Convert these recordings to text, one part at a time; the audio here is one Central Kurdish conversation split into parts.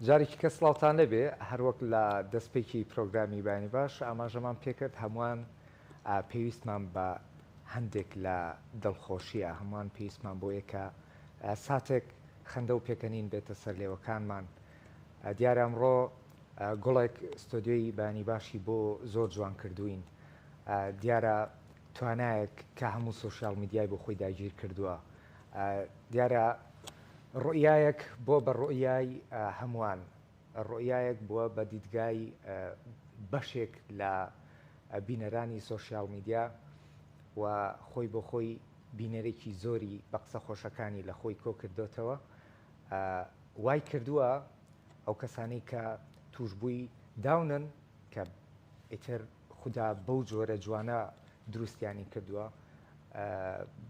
جارێکی کە سڵاوتان لێبێ، هەروەک لە دەستپێکی پرۆگرامی بەیانی باش ئاماژەمان پێکرد هەمووان پێویستمان بە هەندێک لە دڵخۆشییە، هەمووان پێویستمان بۆیە کە ساتێک خەندە و پێکەنین بێتە سەر لێوەکانمان، دیارە ئەمڕۆ گوڵێک ستۆدیۆی بەیانی باشی بۆ زۆر جوان کردووین، دیارە توانایەک کە هەموو سۆشیاڵ میدیای بۆ خۆی داگیر کردووە، دیارە ڕوئیایەک بوە بە ڕوئیای هەموان، ڕوئیایەک بوە بە دیدگای بەشێک لە بینەرانی سۆشیال میدیا و خۆی بۆ خۆی بینەرێکی زۆری بە قسە خۆشەکانی لە خۆی کۆ کردۆتەوە وای کردوە ئەو کەسانەی کە توشبوی داونن کە ئیتر خودا بەو جۆرە جوانە دروستیانی کردووە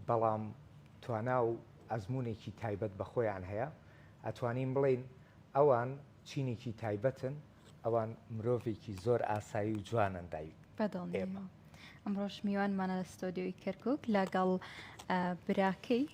بەڵام توانا و ئەزمونێکی تایبەت بە خۆیان هەیە ئەتوانین بڵێین ئەوان چینێکی تایبەتن ئەوان مرۆڤێکی زۆر ئاسایی و جوانن دای بەدڵ ئێمە ئەمڕۆش میوانمانە لە ستۆدیۆی کەرکک لەگەڵ براکەی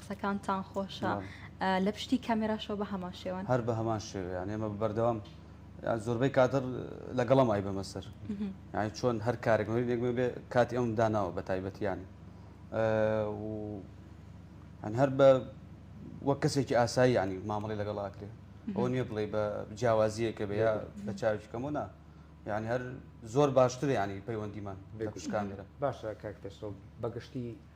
قسەکانتان خۆشە لە پشتی کامێراشەوە بە هەمان شێوەن هەر بە هەمان شێوە یان ئێمە بەردەوام زۆربەی کادر لەگەڵم ئای بەمە سەر یانی چۆن هەر کارێک یەکمە بێ کاتی ئەم داناوە بە تایبەتیان هەن هەر بە وەک کەسێکی ئاسایی ینی مامەڵی لەگەڵاکرێ ئەو نییە بڵێ بە جیاوازیەکە بە یا بە چاویکەمەوە نا یعنی هەر زۆر باشتر ینی پەیوەندیمان بێکوشکانێرە باشە کاکتەسۆ بەگشتی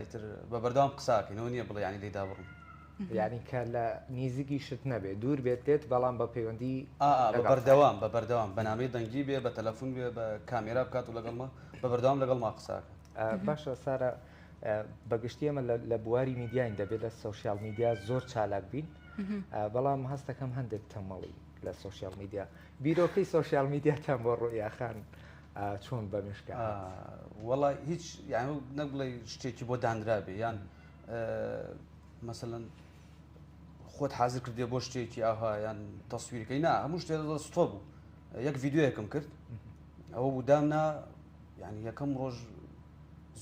ئیتر بە بەردەوام قساکەین ئەوە نییە بڵێ یانی لێی دابڕم. یانی کە لە نیزیکیشت نەبێ دوور بێت لێت بەڵام بە پەیوەندی ئا ئا بە بەردەوام بە بەردەوام بە نامەی دەنگی بێ بە تەلەفون بێ بە کامێرا بکات و لەگەڵ ما بە بەردەوام لەگەڵ ما قساکە. باشە سارا بە گشتی ئێمە لە بواری میدیاین دەبێت لە سۆشیال میدیا زۆر چالاک بین بەڵام هەستەکەم هەندێک تەمەڵی لە سۆشیال میدیا. بیرۆکەی سۆشیال میدیاتان بۆ ڕوئیاخان چۆن بەمشکا وڵی هیچ یان نەک بڵێ شتێکی بۆ دانرابێ یان مەسەەن خۆت حاضر کردێ بۆ شتێکی ئاها یان تەسویرکەی نا هەموو شتێ ستۆ بوو یەک یددیوەکەم کرد ئەوە بودام نا یعنی یەکەم ڕۆژ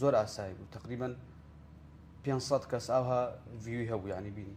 زۆر ئاسایی بوو تقریبن 500 کەس ئاها ڤوی هەبوو ینی بینی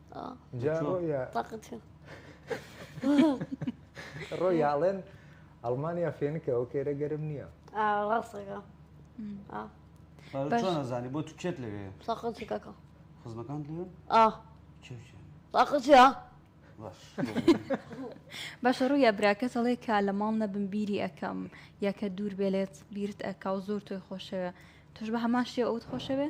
جا ڕۆیا ڕۆیاڵێن ئەڵمانیا فێنکە ئەو کێرە گەرم نییە ڕاستەکە زانی بۆ تو کێت لەوێ ساقەکە خزمەکان لێ ساقەچە باشە ڕوویا براکە دەڵێ کا لە ماڵ نەبم بیری ئەەکەم یاکە دوور بێلێت بیرت ئەکا و زۆر تۆی خۆشەوێ توش بە هەمان شێ ئەوت خۆشەوێ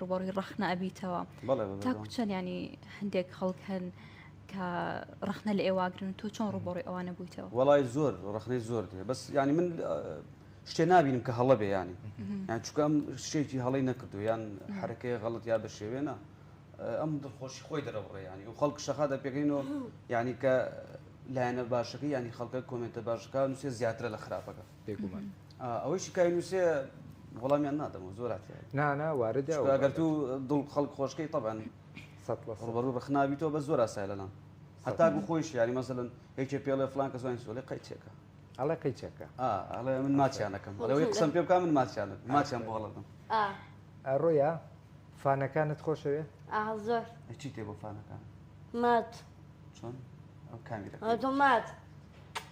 ڕوبەڕی ڕخنە ئەبیتەوە تا کوچەن ینی هەندێک خەڵک هەن کە ڕخنە لە ئێواگرن تۆ چۆن ڕوبەڕی ئەوانە بوویتەوە وڵی زۆر ڕخنەی زۆر دێ بەس ینی من شتێ نبینم کە هەڵە بێ ینی یان چکەم شتێکی هەڵی نەکردو یان حرەکەی غەڵت یا بە شێوێنە ئەم دڵخۆشی خۆی دەرەوڕێ ینی و خەڵک شەخا دەپێکەینەوە ینی کە لایەنە باشەکە ینی خەڵکە کۆمنتە باشەکە نووسێ زیاترە لە خراپەکە بێگومان. ئەوەی شکایی نووسێ وەڵامیان نادەمەوە زۆر هاتیە نانا واردە ئەگەر تو دڵ خەڵک خۆشکەی تەبەن ڕوبەڕوو بەخنابی تۆ بە زۆر ئاسای لەلام هەتا گو خۆیش یاری مەزلن یەکێ پێڵێ فلان کە زوانی سۆلێ قەیچێکە ئەڵێ قەیچەکە ئەڵێ من ماچیانەکەم ئەڵەوەی قسم پێ بکە من ماچیان ماچیان بۆ هەڵدم ڕۆیا فانەکانت خۆشەوێ زۆر چی تێ بۆ فانەکان مات چۆن ئەو کامیرە مات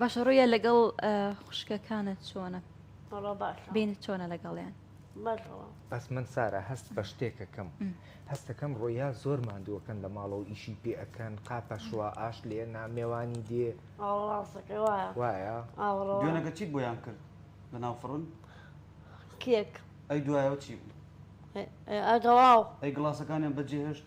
باشە ڕویە لەگەڵ خوشکەکانت چۆنە بین چۆنە لەگەڵیان بەس من سارا هەست بە شتێکەکەم هەستەکەم ڕۆیا زۆر مادووەکەن لە ماڵەوە ئیشی پێەکەن قاپە شووا ئاش لێ نامێوانی دێ وایە دوێنەکە چیت بۆیان کرد لە ناو فڕن کێک ئەی دوایەوە چی بوو ئەگەڵاو ئەی گڵاسەکانیان بەجێهێشت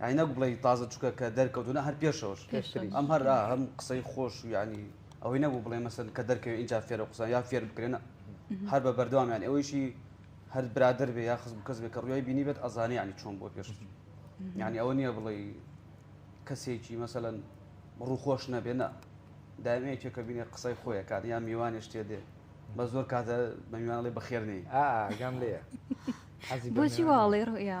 یانی نەک بڵێی تازە چوکە کە دەرکەوتو نە هەر پێشەوەش ئەم هەر هەم قسەی خۆش و یانی ئەوەی نەبوو بڵێ مەسن کە دەرکەوێت اینجا فێرە قوسە یا فێر بکرێنە هەر بە بەردەوامیان ئەوەیشی هەر برادر بێ یا خز کەس بێ کە ڕویای بینی بێت ئەزانانی ینی چۆن بۆ پێش یعنی ئەوە نییە بڵێ کەسێکی مەسەەن ڕووخۆش نەبێنە دامەیەکێک کە بینێ قسەی خۆیەکان یا میوانێش تێ دێ بە زۆر کاتە بە میوانڵی بەخێرنی ئاگەم لێ بۆچی واڵێ ڕویا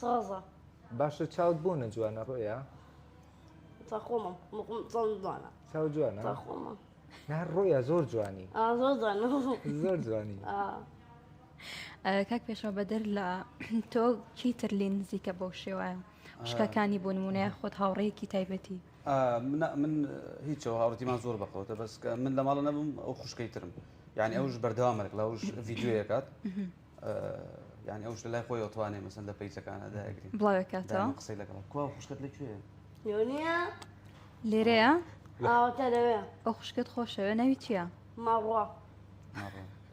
سازە. باشە چاوت بۆ نەجوانە ڕۆیا؟ تا خۆمم مقم چاو جوانە. چاو جوانە؟ تا خۆمە. نا ڕۆیا زۆر جوانی. ئا زۆر جوانە. زۆر جوانی. کاک پێشەوە بەدەر لە تۆ کی تر لێ نزیکە بەو شێوایە شکەکانی بۆ نمونەیە خۆت هاوڕێیەکی تایبەتی من هیچەوە هاوڕێتیمان زۆر بەقەوتە بەس من لە ماڵە نەبم ئەو خوشکەی ترم یعنی ئەوش بەردەوامەک لەوش ڤیددیوەکات یانی ئەوش لای خۆی ئەتوانێ مەسەن لە پیجەکانە داگری بڵاوێکاتەوە قسەی لەگەڵ کو خوشکت لەکوێ یۆنیە لێرەیە ئاوەکە لەوێ ئەو خوشکت خۆشەوێ ناوی چییە ماڕۆ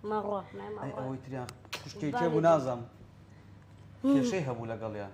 ماڕۆ ئەوەی تریان خوشکێکێ بوو نازانم کێشەی هەبوو لەگەڵیان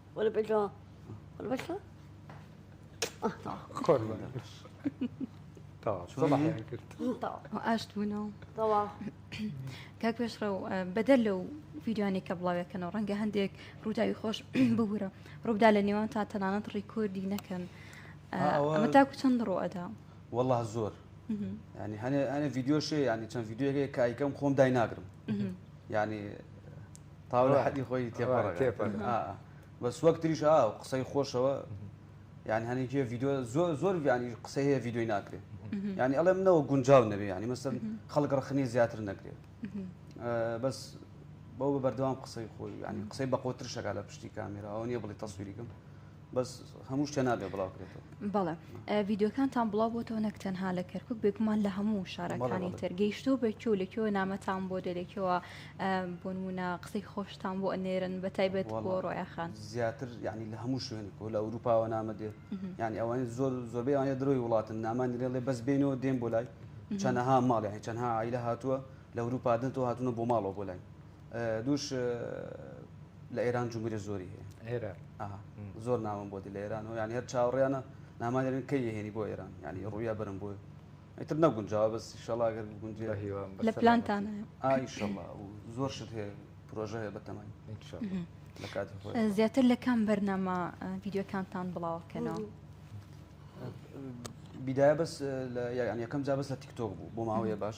وەلا بەجا وەلا بەجا ئاشت بوونەوە کاک پێشڕە و بەدەر لەو ویددیوانی کە بڵاوێکەنەوە ڕەنگە هەندێک ڕووداوی خۆش ببوورە ڕوودا لە نێوان تا تەنانەت ڕیکۆردی نەکەن تاکو چەند ڕۆ ئەدا والله زۆر ینی هەنێ ئەە یددیۆشێ ینی چەند یددیوەکە کایکەم خۆم دایناگرم ینی تاو لە حەدی خۆی تێپەڕە بەس وەک تریش ئا و قسەی خۆشەوە یان هەنێکی ڤیددیو زۆر زۆر ینی قسە هەیە ڤیددیوی ناکرێت ینی ئەڵێ منەوە گونجاو نەبێ ینی مەسم خەڵک ڕخنی زیاتر نەکرێت بەس بەو بە بەردەوام قسەی خۆی ینی قسەی بەقۆتر شەکە لە پشتی کامێراەوە نیە بڵی تەسویریکم بەس هەموو شتێ نابێ بڵاو کرێتەوە بەڵێ ڤیددیوکانتان بڵاو بۆتەوە نەک تەنها لە کەرکک بێگومان لە هەموو شارەکانی تر گەیشتۆ بەکۆ لە کێوە نامەتان بۆ دەرێکەوە بۆ نمونە قسەی خۆشتان بۆ ئەنێرن بە تایبەت بۆ ڕۆیاخان زیاتر ینی لە هەموو شوێنێک و لە ئەوروپاوە نامە دێت ینی ئەوان زۆر زۆربەی ئەوانە درۆی وڵاتن نامانی لێڵێ بەس بینەوە دێن بۆ لای چەنەها ماڵیان چەنها ئایلە هاتووە لە ئەوروپادنەوە هاتوونە بۆ ماڵەوە بۆ لای دووش لە ئێران جمهوری زۆری هەیە زۆر ناوم بۆ دی لە ئێران و یان هەر چاوەڕیانە نامانێن کە یهێنی بۆ ئێران ینی ڕویا برم بۆی ئیتر نەگونجاوە بەس شەڵاگەر گونجێ لە پلانتان ئایشەڵا زۆر شت هەیە پرۆژە هەیە بەتەمای زیاتر لە کام بەرنامە ڤیددیوەکانتان بڵاوکەنەوە بیدایە بەس یان یەکەم جا بەس لە تیکتۆک بوو بۆ ماوەیە باش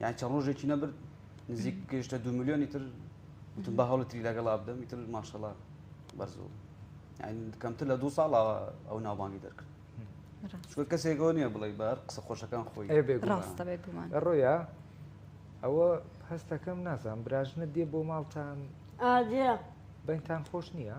یان چە ڕۆژێکی نەبرد نزیک گەشتە دو میلیۆنی تر وتم بە هەڵ تری لەگەڵا بدەم تر ماشەڵا بەرزەوە کەمتر لە دو ساڵ ئەو ناوبانگی دەرکرد چکە کەسێکەوە نییە بڵێ بار قسە خۆشەکان خۆی ڕۆیا ئەوە هەستەکەم نازان براژنە دێ بۆ ماڵتان بەینتان خۆش نییە؟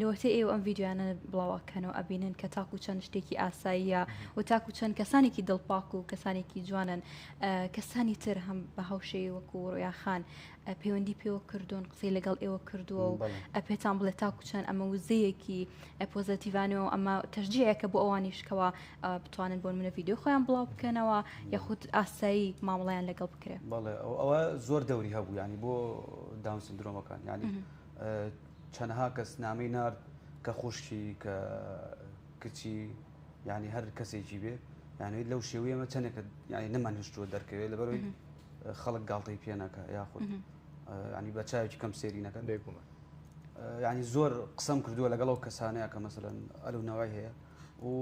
لەوەتەی ئێوە ئەم ڤیدیۆیانە بڵاو ئەکەن و ئەبینن کە تاکو چەند شتێکی ئاساییە و تاکو چەند کەسانێکی دڵپاک و کەسانێکی جوانن ئە، کەسانی تر هەم بە هاوشێوی وەکو ڕۆیاخان ئە، پەیوەندی پێوە کردوون قسەی لەگەڵ ئێوە کردووە و بەڵێ ئە، پێتان بڵێ تاکو چەند ئەمە وزەیەکی ئە، پۆزەتیڤانە و ئەمە تەشجیعێکە بۆ ئەوانیش کەوا ئە، بتوانن بۆ نمونە ڤیدیۆی خۆیان بڵاو بکەنەوە بەڵێ یاخود ئاسایی مامەڵەیان لەگەڵ بکرێ. بەڵێ ئەو ئەوە زۆر دەوری هەبوو یانی بۆ داون سندرۆمەکان یانی مهم. چەنەها کەس نامەی نارد کە خوشکی کە کچی یعنی هەر کەسێکی بێ یانەوەی لەو شێوەیەمە چەندێکە یعنی نەمان هشتووە دەرکەوێت لەبەرەوەی خەڵک گاڵتەی پێنەکە یاخود ینی بە چاوێکی کەم سێری نەکەن بێگومان ینی زۆر قسەم کردووە لەگەڵ ئەو کەسانەیە کە مەسەن ئەلو نەوەی هەیە و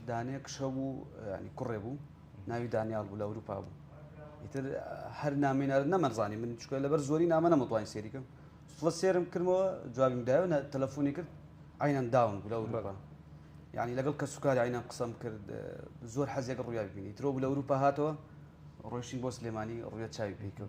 دانێک شە بوو ینی کوڕێ بوو ناوی دانیال بوو لە ئەوروپا بوو ئیتر هەر نامێنەر نەمەزانانی من چکە لەبەر زۆری نامە نەمەتوانین سێریکەم فڵە سێرم کردمەوە جوابیم داوە تەلەفۆنی کرد عینەن داون بوو لە ئەوروپا یعنی لەگەڵ کە سوکاری عینەن قسەم کرد زۆر حەزێک ڕویا ببینی ترۆ بوو لە ئەوروپا هاتەوە ڕۆشتین بۆ سلێمانی ڕوە چاوی پێکەوە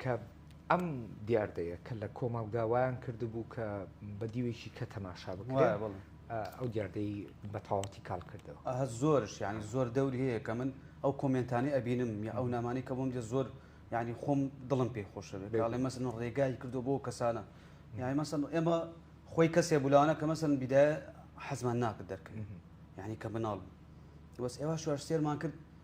کە ئەم دیاردەیە کە لە کۆمەڵگا وایان کردبوو کە بە دیوێکی کە تەماشا بکرێت ئەو دیاردەی بە تەواوەتی کاڵ کردەوە. زۆرش یانی زۆر دەوری هەیە کە من ئەو کۆمێنتانەی ئەبینم یا ئەو نامانەی کە بۆم دێت زۆر یانی خۆم دڵم پێی خۆشە بێت کاڵێ مەسن ڕێگای کردو بۆ کەسانە یانی مەسن ئێمە خۆی کەسێ بولانە کە مەسن بیدایە حەزمان ناکرد دەرکەین یانی کە مناڵ بوو بەس ئێوە شوارسێرمان کرد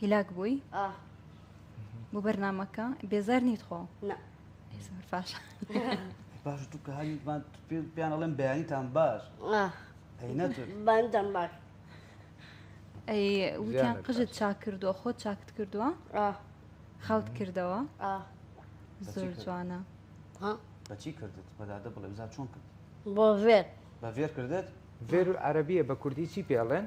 هیلاک بووی ئاه بۆ بەرنمەکە بێزار نیت خۆ نە زۆر باش باش دوو کە هەریمان پێیان ئەڵێم بەیانیتان باش ئاه هەی نەتر بەندەم باش ئەی وتیان ژیانت قژت باش. چاک کردووە خۆت چاکت کردووە ئاه خاوت کردەوە ئاه زۆر کرد؟ جوانە ها بەچی کردت بەدادە بڵێ بزا چۆن کرد بۆ ڤێر بە ڤێر کردت ڤێر عەرەبیە بە کوردی چی پێڵێن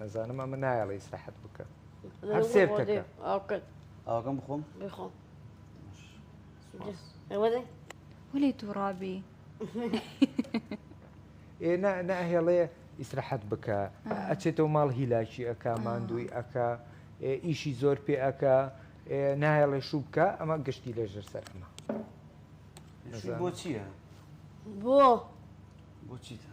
ئەزانم ئەمە نایەڵە ئیسراحەت بکە هەر سێر تەکە ئاوەکەم بخۆم بخۆم ولی تووڕابی ئێ ناهێڵێ ئیسراحەت بکە ئەچێتەوە ماڵ هیلاکی ئەک ماندووی ئەک ئیشی زۆر پێ ئەک نایەڵێ شوو بکە ئەمە گشتی لێژەر سەر ئەمە بۆ چییە؟ بۆ بۆ چیتە؟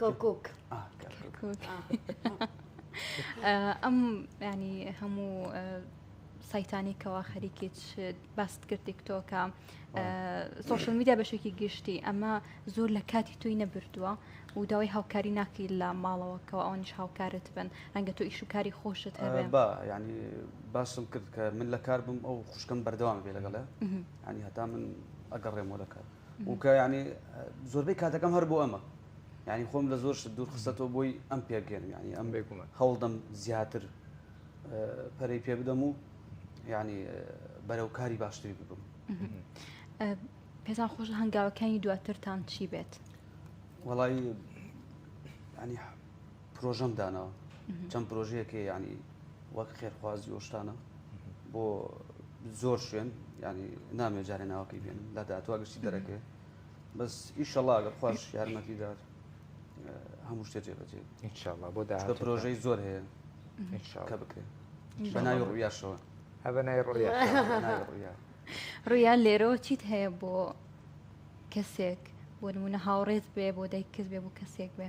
کەرکک ئەم ینی هەموو سایتانی کەوا خەریکی باست کرد تیکتۆکە سوۆشل میدیا بەشێکی گشتی ئەمە زۆر لە کاتی تۆی نەبردووە و داوای هاوکاری ناکەی لە ماڵەوەکەەوە ئەوانیش هاوکارت بن ڕەنگە تۆ ئیش و کاری خۆشت هەبێ ینی باسم کرد کە من لە کار بم ئەو خوشکم بەردەوام بێ لەگەڵێ ینی هەتا من ئەگەڕێمەوە لە کار و کە یعنی زۆربەی کاتەکەم هەر بۆ ئەمە یعنی خۆم لە زۆر شت دوور خستەوە بۆی ئەم پێگەێن یعنی ئەم بێکومە هەوڵدەم زیاتر پەرەی پێ بدەم و یعنی بەرەو کاری باشتری ببم پێتان خۆش هەنگاوەکانی دواترتان چی بێت وڵی ینی پرۆژەم داناوە چەند پرۆژەیەکێ ینی وەک خێرخوازی وەشتانە بۆ زۆر شوێن ینی نامێ جارێ ناوەکەی بێن لە دااتوا گشتی دەرەکەێ بەس ئیشەڵاگە خۆش یارمەتی دار هەموو شتێ جێبەجێ ئینشاءڵا بۆ دا پرۆژەی زۆر هەیە کە بکرێت بەناوی ڕویاشەوە هە بەنای ڕویا ڕویا لێرەوە چیت هەیە بۆ کەسێک بۆ نمونە هاوڕێت بێ بۆ دایکت بێ بۆ کەسێک بێ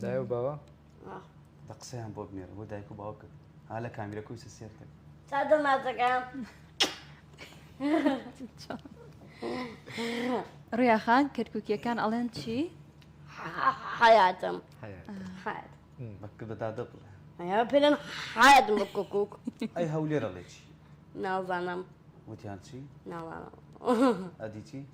دایە و باوە دە قسەیان بۆ بنێرە بۆ دایک و باوکت ها لە کامیرە کوی سێر کرد تا دەماتەکان ڕیاخان کەرکوکیەکان ئەڵێن چی؟ حیاتم بەکە بەدا دەبڵێ پێن حیات بە کۆکوک ئەی هەولێرە ڵێ چی؟ ناوزانم وتیان چی؟ ناوانم ئەدی چی؟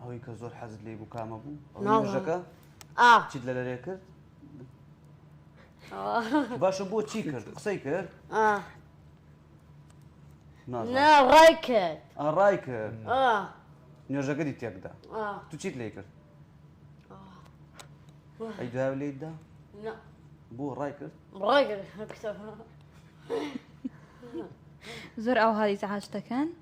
ئەوەی کە زۆر حەزت لێی بوو کامە بوو؟ نوێژەکە؟ چیت لە لەرێ کرد؟ باشە بۆ چی کرد قسەی کرد؟ نا ڕای کرد ڕای کرد نوێژەکەی تێکدا تو چیت لێ کرد؟ ئەی داو لێدا؟ بۆ ڕای کرد؟ ڕای کرد زۆر ئاو هاریز عاش دەکەن؟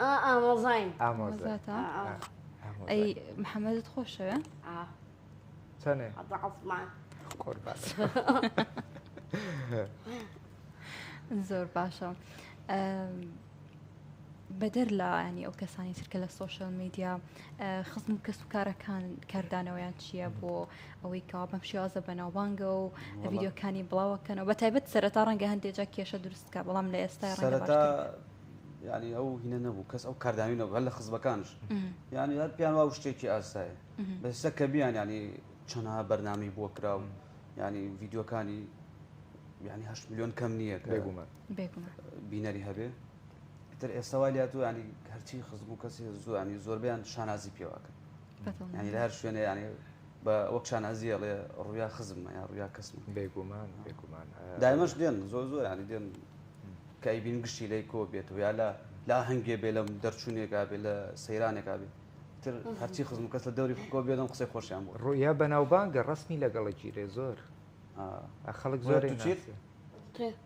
ئامۆزاین ئامۆزاتە ئەی محەممەدت خۆشەوێ چەنێ عسمان خۆر باس زۆر باشە بەدەر لە ینی ئەو کەسانی ترکە لە سوۆشل میدیا خزم و کەس و کارەکان کاردانەوەیان چییە بۆ ئەوەی کەوا بەم شێوازە بەناوبانگە و ڤیددیوکانی بڵاوەکەنەوە بە تایبەت سەرەتا ڕەنگە هەندێجا کێشە دروست بکە بەڵام لە ئێستای سەرەتا ینی ئەو هینە نەبوو کەس ئەو کاردانی نەبوو هەر لە خزبەکانش ینی هەر پیان وا شتێکی ئاسایە بەسە کە بیان ینی چەنها بەرنامی بۆ کراو ینی ڤیددیوەکانی ینی هەشت میلیۆن کەم نییە کە بینەری هەبێ تر ئێستاوا لاتوانی هەرچی خزم و کەسی زوانی زۆربیان شانازی پێواکە یانی لە هەر شوێنێ یانی بە وەک شانازیە ڵێ ڕویا خزممە یا ڕویا کەسم بێگومان بێگومان دایمەش دێن زۆر زۆر ینی دێن کای بین گشتی لی کۆ بێت و یا لە لا هەنگێ بێ لەم دەرچوونێکا بێ لە سەیرانێکا بێ تر هەرچی خزم کەس لە دەوری خۆ بێنم قسەی خۆشیان بۆ ڕویا بەناوبانگە ڕسمی لەگەڵە گیرێ زۆر خەڵک زۆر چیت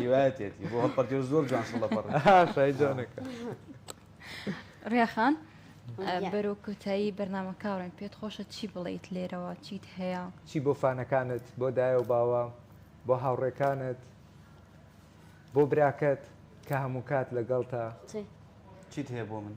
هیوایەتێتی بۆ هەڵپەرکێ زۆر جوان شڵە پەڕ شای جوانەکە ڕێخان بەرۆ کوتایی بەرنامە کاڕێن پێت خۆشە چی بڵیت لێرەوە چیت هەیە چی بۆ فانەکانت بۆ دایە و باوە بۆ هاوڕێکانت بۆ براکەت کە هەموو کات لەگەڵ تا چیت هەیە بۆ من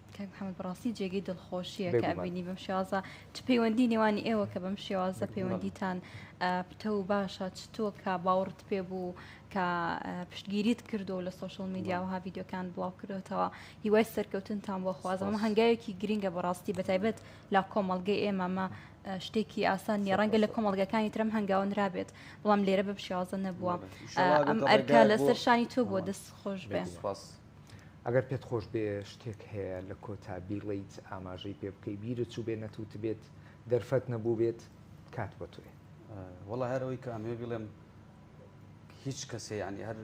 کاک محمد بەڕاستی جێگەی دڵخۆشیە کە بینی بەم شێوازە چ پەیوەندی نێوانی ئێوە کە بەم شێوازە پەیوەندیتان پتە و باشە چتۆ کە باوەڕت پێ بوو کە پشتگیریت کردو لە سوۆشل میدیا و هاڤیددیوکان بڵاو کردوتەوە هیوای سەرکەوتنتان بۆ خوازم هەنگاوێکی گرنگە بەڕاستی بەتایبەت لا کۆمەڵگەی ئێمەمە شتێکی ئاسان نیە ڕەنگە لە کۆمەڵگەکانی ترم هەنگاونرابێت بەڵام لێرە بە شێوازە نەبووە ئەم ئەرکە لەسەر شانی تۆ بۆ دەست خۆش بێ. ئەگەر پێت خۆش بێ شتێک هەیە لە کۆتا بیڵێیت ئاماژەی پێ بکەی بیرت چوو بێ نەتوت بێت دەرفەت نەبوو بێت کات بۆ تۆیە. وەڵا هەر ئەوەی کە ئەمەوێ بیڵێم هیچ کەسێ یانی هەر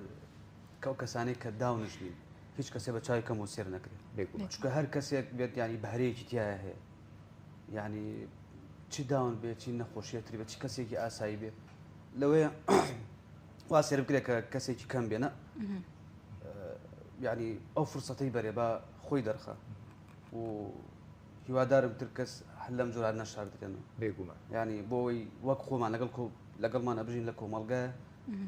کەو کەسانەی کە داونشتین هیچ کەسێ بە چاوی کەمەوە سێر نەکرێ بێگومان چونکە هەر کەسێک بێت یانی بەهرەیەکی تیایە هەیە یانی چی داون بێ چی نەخۆشیە تری بە چی کەسێکی ئاسایی بێ لەوەیە وا سێر بکرێ کە کەسێکی کەم بێنە یانی ئەو فرسەتەی بەرێ با خۆی دەرخە و هیوادارم تر کەس هەر لەم جۆران نەشار دکەن بێگومان ینی بۆی وەک خۆمان لەگەڵ کۆ لەگەڵمان ئەبژین لە کۆمەلگە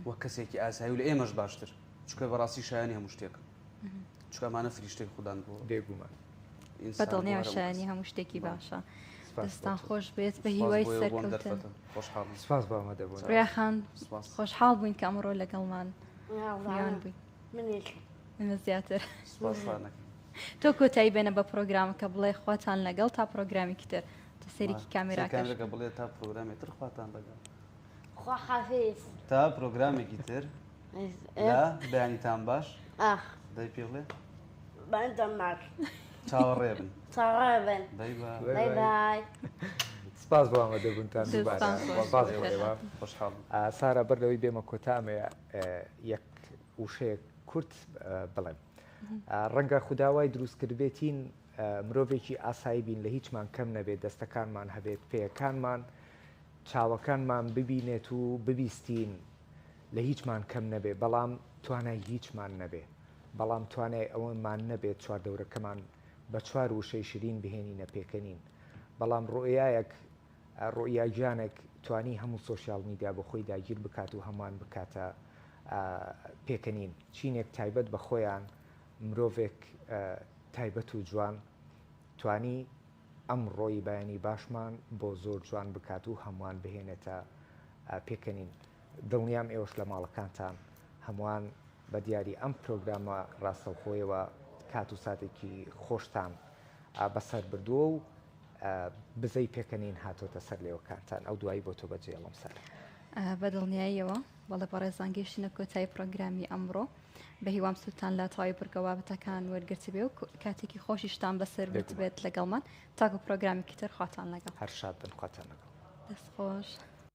وەک کەسێکی ئاسایی و لە ئێمەش باشتر چکە بەڕاستی شایانی هەموو شتێک چکەمانە فریشتەی خوددان بۆ بێگومان بەدڵنیاشانی هەموو شتێکی باشە. دەستان خۆش بێت بە هیوای سەرکەوتن خۆشحاڵ سپاس بامە دەبوو خۆشحاڵ بووین کە ئەمڕۆ لەگەڵمان تۆ کۆتایی بێنە بە پرۆگرامەکە بڵێ خواتان لەگەڵ تا پرۆگرامیکی تر تە سەرێکی کامێراکەەکە بڵێ تا پرۆگرامی تر خواتان لەگەڵ تا پرۆگرامێکی تر بەیانیتان باش دەی پێ بڵێ چاوەڕێبن چاوەڕێبن بای بای سپاس بۆ ئامادەبوونتان دووبارە. سپاس بۆ ئێوە. خۆشحاڵ بووم. سارا بەر لەوەی بێمە کۆتا ئەمەوێ یەک وشەیەک کورت بڵێم. ڕەنگە خودا وای دروست کردبێتین مرۆڤێکی ئاسایی بین لە هیچمان کەم نەبێت، دەستەکانمان هەبێت، پێیەکانمان، چاوەکانمان ببینێت و ببیستین لە هیچمان کەم نەبێت، بەڵام توانای هیچمان نەبێت. بەڵام توانای ئەوەمان نەبێت چواردەورەکەمان بە چوار وشەی شرین بهێنینە پێکەنین بەڵام ڕوئیایەک ڕوئیا گیانەک توانی هەموو سۆشیال میدیا بۆ خۆی داگیر بکات و هەمووان بکاتە پێکەنین چینێک تایبەت بە خۆیان مرۆڤێک تایبەت و جوان توانی ئەم ڕۆی بەیانی باشمان بۆ زۆر جوان بکات و هەمووان بهێنێتە پێکەنین دڵنیام ئێوەش لە ماڵەکانتان هەمووان بە دیاری ئەم پرۆگرامە ڕاستەوخۆیەوە کات و ساتێکی خۆشتان بەسەر بردووە و بزەی پێکەنین هاتۆتە سەر لێوەکانتان ئەو دوایی بۆ تۆ بەجێڵم سەر. بە دڵنیاییەوە بەڵێ بەڕێزان گەیشتینە کۆتایی پڕۆگرامی ئەمڕۆ بە هیوام سوودتان لە تەواوی بڕگە بابەتەکان وەرگرتبێ و کاتێکی خۆشیشتان بەسەر بێت لەگەڵمان تاکو پرۆگرامێکی تر خواتان لەگەڵ هەر شاد بن خواتان لەگەڵ دەست خۆش.